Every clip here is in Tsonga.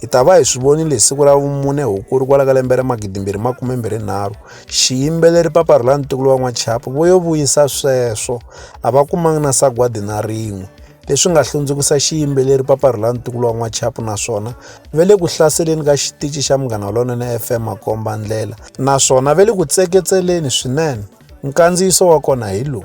Hi ta va hi swi vonile hi siku ra vumune Hukuri kwala ka lembe ra magidimbirhi makume-mbirhi-nharhu, xiyimbeleri Papa Rhulani Ntukulu wa N'wachapu vo yo vuyisa sweswo a va kumangi na sagwadi na rin'we, leswi nga hlundzukisa xiyimbeleri Papa Rhulani Ntukulu wa N'wachapu naswona ve le ku hlaseleni ka xitici xa Munghana Lonene FM makomba-ndlela naswona ve le ku tseketseleni swinene. Nkandziyiso wa kona hi lowu.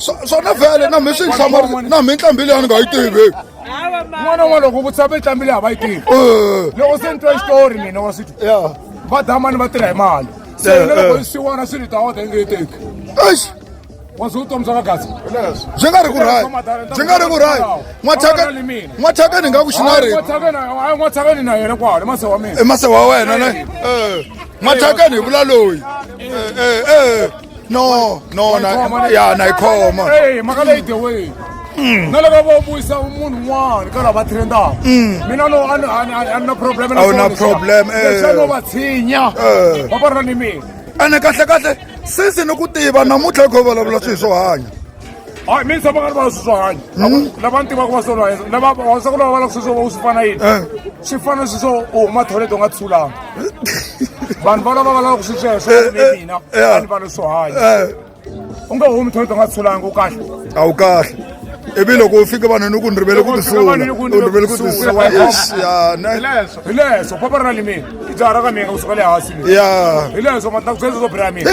swona vhele na mi swi nhlamarisa na mi nqambi leyi a ni nga yi tivi n'wana wa loko ku tshame nqambi leyi a va yi tivi eh. loko se ni twa xitori mina wa switi va damani va tirha hi mali se eh, loko eh. siwana swi ni ta wota inge yi teki waze utomi bya vagazi byi nga ri ku rayi byi nga ri ku rayi n'wathaka ni nga ku xinarini'wathakani na yena kwale mase wa mina i mase wa wena ne n'wathakani hi vula loyi eh, eh, eh. no no na Wayikhoma, ya na ikhoma Hey, mhaka leyi the way na loko vo vuyisa munhu un'wana ka lava va trendaka mina no a ni- a ni- a ni- a ni na problem na A wu na swona, problem, eh. leswi a no va tshinya Eh. va va ri na ni mina ene kahle kahle sisi ni ku tiva namuntlha hi kho vulavula swilo swo hanya hayi mi ni tshama nga ri vona swi swo hanya hmm? lava ni tivaka va swo lwa lava vavasaka lava va lava swi swo va u swi fana yini eh. swi fana swi swo u huma thoyilete u nga tshulanga vanhu va lava va lavaka swi sweswo eh, ni eh, mina a ni va ni swo hanya u nga humi thoyilete u nga tshulanga u kahle a wu kahle ivi loko u fike vanhu ni ku ni rivele ku tisula u rivele ku tisulahileso papa ri na limini i jaha ra ka mina u suka le hansi ya hileswo matakuzeswo bra mina